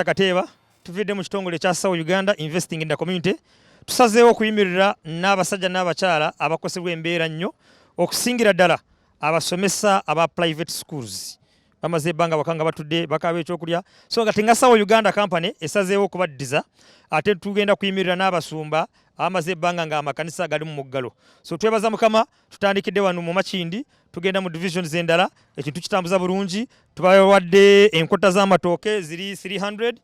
Dokita Kateeba tuviidde mu kitongole ekya Sawo Uganda Investing in the Community tusazeewo okuyimirira n'abasajja n'abakyala abakosebwa embeera nnyo okusingira ddala abasomesa aba private schools bamaze ebbanga waka nga batudde bakaaba ekyokulya so nga tengasawo uganda company esazeewo okubaddiza ate tugenda kuyimirira n'abasumba amaze ebbanga nga amakanisa gali mu muggalo so twebaza mukama tutandikidde wano mu makindi tugenda mu division zendala ekintu kitambuza bulungi tubawadde enkota z'amatooke ziri 300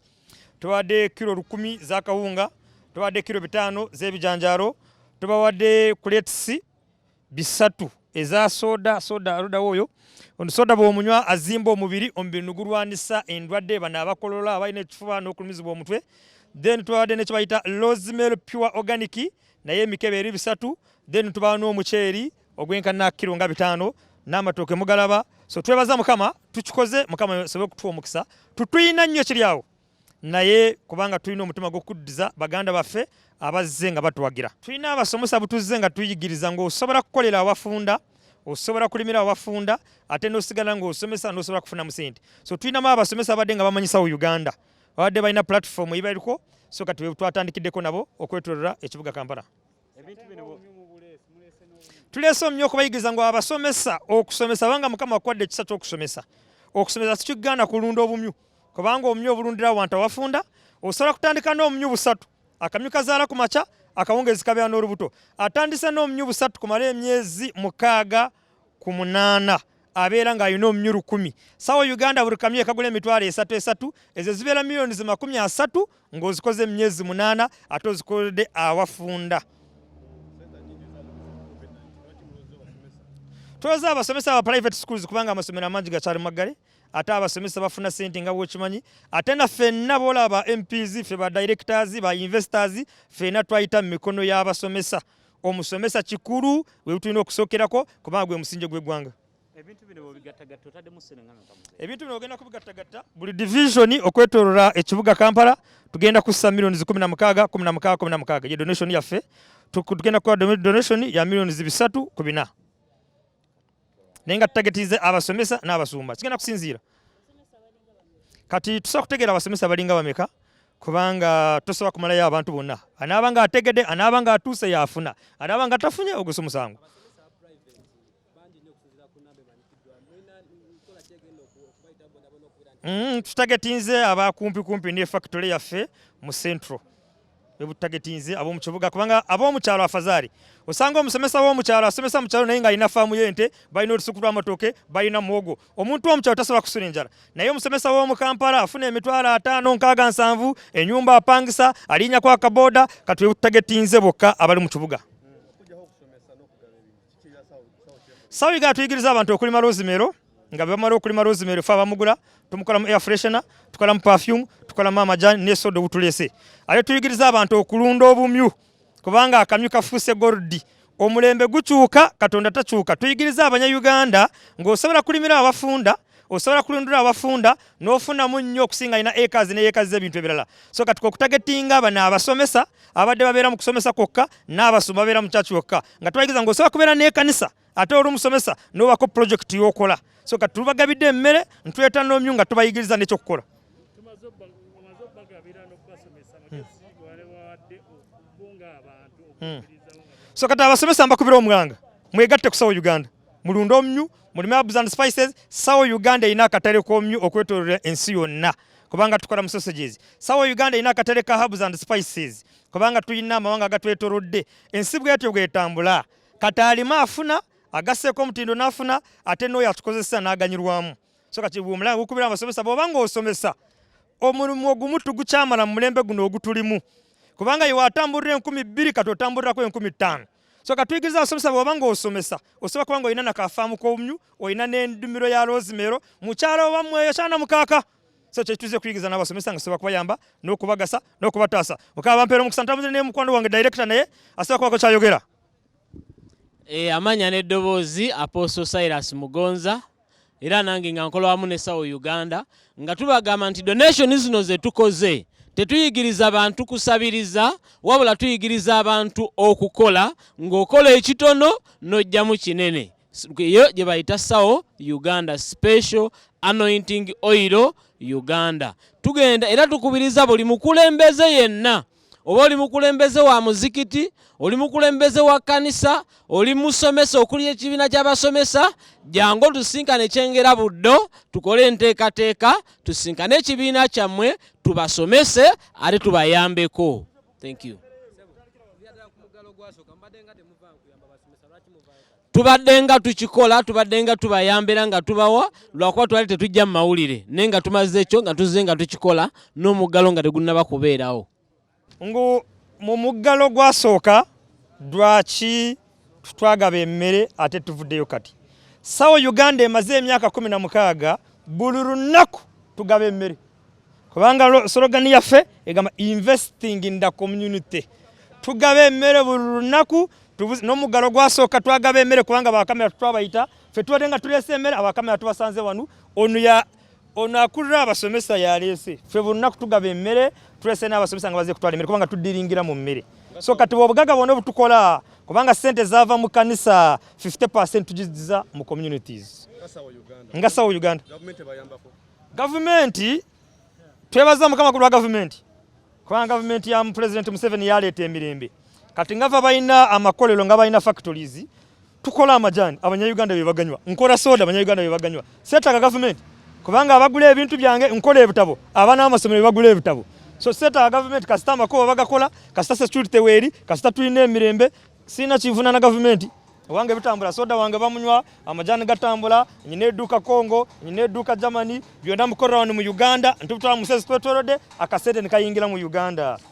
tubawadde kiro lukumi zakawunga tubawadde kiro bitaano z'ebijanjaalo tubawadde kuletisi bisatu eza soda soda aludawo oyo soda bwomunywa azimba omubiri omubiri nugulwanisa endwadde bano abakolola abalina ekifuba n'okulumizibwa omutwe then tubadde nekibayita rosemary pure organic naye emikebe eri bisatu then tubawa n'omuceeri ogwenkana kiro nga bitaano n'amatooke mugalaba so twebaza mukama tukikoze mukama sobe okutuwa omukisa tutuyina nnyo kiri awo naye kubanga tulina omutima gw'okuddiza baganda baffe abazze nga batuwagira tulina abasomesa butuzze nga tuyigiriza ng'osobola kukolera awafunda osobola kulimira awafunda ate n'osigala ng'osomesa n'osobola kufunamu sente so tulinamu abasomesa abadde nga bamanyisawo uganda babadde balina pulatifomu eyibaliko so kati twatandikideko nabo okwetolola ekibuga kampala tuleese omumyu okubayigiriza ngu abasomesa okusomesa banga mukama akuwadde ekisa kyokusomesa okusomesa sikigaana kulunda obumyu kubanga obumyu obulundira wantu awafunda osobola kutandika n'omumyu busatu akamyu kazaala ku makya akawungeezi kabeera n'olubuto atandise n'omumyu busatu kumala emyezi mukaaga ku munaana abeera ng'alina omunywi lukumi sawa uganda buli kamyu ekagula emitwalo esatu esatu ezo zibeera miliyoni zi makumi asatu ng'ozikoze emyezi munaana ate ozikolede awafunda twoza abasomesa aba private schools kubanga amasomero amangi gakyali maggale ate abasomesa bafuna sente nga bwokimanyi ate na fenna boolaba ba mps fe ba directors ba investors fena twayita mu mikono y'abasomesa omusomesa kikulu webutulina okusokerako kubanga gwe musinje gwegwanga ebintu bino bwebigattagatta otaddemu ssenengano ebintu bino ogenda kubigattagatta buli divisioni okwetolola ekibuga kampala tugenda kussa millioni kumi na mukaaga kumi na mukaaga kumi na mukaaga ye donation yaffe tugenda kukola donation ya millioni bisatu ku bina naye nga tutagetize abasomesa n'abasumba kigenda kusinziira kati tusobola kutegeera abasomesa balinga bameka kubanga tosobola kumalayo abantu bonna anaaba nga ategede anaaba nga atuuse yaafuna anaaba nga tafunye ogusa omusango mm, tutagetinze abakumpikumpi ne factory yaffe mu central webutagetinze ab'omu kibuga kubanga ab'omu kyalo afazari osanga omusomesa w'omu kyalo asomesa mu kyalo naye ng'alina faamu y'ente balina olusuku lw'amatooke balina muwogo omuntu w'omu kyalo tasobola kusula enjala naye omusomesa w'omu kampala afuna emitwalo ataano nkaaga nsanvu enyumba apangisa alinyako akaboda kati webutagetinze bokka abali mu kibuga sawiga atuyigiriza abantu okulima rosemary nga bamala okulima rosemary fe abamugula tumukolamu air freshener tukolamu perfume tukolamu amajani ne soda obutulese ate tuyigiriza abantu okulunda obumyu kubanga akamyu kafuuse goldi omulembe gukyuka katonda takyuka tuyigiriza abanyayuganda ng'osobola kulimira abafunda osobola kulundula abafunda n'ofunamu nnyo okusinga alina ekazi ne yekazi z'ebintu ebirala so kati kwekutagetinga abana abasomesa abadde babeera mu kusomesa kwokka n'abasumba babeera mu kyaki wokka nga tubayigiza nga osobola kubeera n'ekanisa ate oli omusomesa n'obako pulojekiti y'okola so kati tubagabidde emmere ntuleta n'omyu nga tubayigiriza n'ekyokukola hmm. hmm. so kati abasomesa mbakubira omwanga mwegatte kusawo uganda mulunde omyu mu Herbs and Spices sawo Uganda erina akatale komyu okwetololera ensi yonna kubanga tukola mu sausages. Sawo Uganda erina akatale ka Herbs and Spices kubanga tulina amawanga agatwetolodde ensi bwetyo bwetambula kati alima afuna agaseeko omutindo n'afuna ate n'oyo atukozesa n'aganyirwamu so kati omulanga gukubira abasomesa bwoba ng'osomesa omulimu ogumu tugukyamala mu mulembe guno ogutulimu kubanga yewe atambulira enkumi bbiri kati otambulirako enkumi ttaano so katuyigiriza abasomesa bwoba nga osomesa osobola kuba nga olina nakafaamu komyu olina nendumiro ya rosimero mukyala obamweyo kyana mukaaka so kyetuze kuyigiriza nabasomesa nga sobola kubayamba nokubagasa nokubataasa mukaba bampeera omukisa ntambuze ne mukwano wange director naye asobola kubako kyayogera e, eh, amanya neddoboozi apostle silas mugonza era nange nga nkola wamu ne sawo uganda nga tubagamba nti donation zino zetukoze tetuyigiriza bantu kusabiriza wabula tuyigiriza abantu okukola ng'okola ekitono n'ojjamu kinene eyo gye bayita sawo uganda special anointing oil uganda tugenda era tukubiriza buli mukulembeze yenna oba oli mukulembeze wa muzikiti oli mukulembeze wa kkanisa oli musomesa okuli ekibiina ky'abasomesa jangu otusinkane kyengera buddo tukole enteekateeka tusinkane ekibiina kyammwe tubasomese ate tubayambeko thank you tubadde nga tukikola tubadde nga tubayambira nga tubawa lwakuba twali tetujja mu mawulire naye nga tumaze ekyo nga tuzze nga tukikola n'omuggalo nga tegunnaba kubeerawo ngu mu muggalo gwasooka lwaki twagaba emmere ate tuvuddeyo kati sawa uganda emaze emyaka kumi na mukaaga buli lunaku tugaba emmere kubanga slogan yaffe egamba investing in the community tugaba emmere buli lunaku n'omuggalo gwasooka twagaba emmere kubanga bakamera twabayita fe tubadde nga tuleese emmere abakamera tubasanze wanu ono ya ono akulira abasomesa yaleese fe buli lunaku tugaba emmere tuleese n'abasomesa nga baze kutwala emmere kubanga tuddiringira mu mmere so kati bwobugaga bwona obutukola kubanga sente zava mu kanisa 50 tugiziza mu communities nga sawa uganda Gavumenti twebaza mukama ku lwa gavumenti kubanga gavumenti ya Pulezidenti Museveni yaleeta emirembe kati ngava balina amakolero nga balina factories tukola amajani abanyayuganda bye baganywa nkola soda abanyayuganda bye baganywa seetaaga gavumenti kubanga abagula ebintu byange nkola ebitabo abaana b'amasomero bye bagula ebitabo so seetaaga gavumenti kasita amakubo bagakola kasita security weeri kasita tulina emirembe Sina kivuna na gavumenti wange bitambula soda wange bamunywa amajani gatambula nyina eduuka congo nyina eduuka germany byonna mukorera wano mu uganda ntubutwala musezi twetwerode akasente nekayingira mu uganda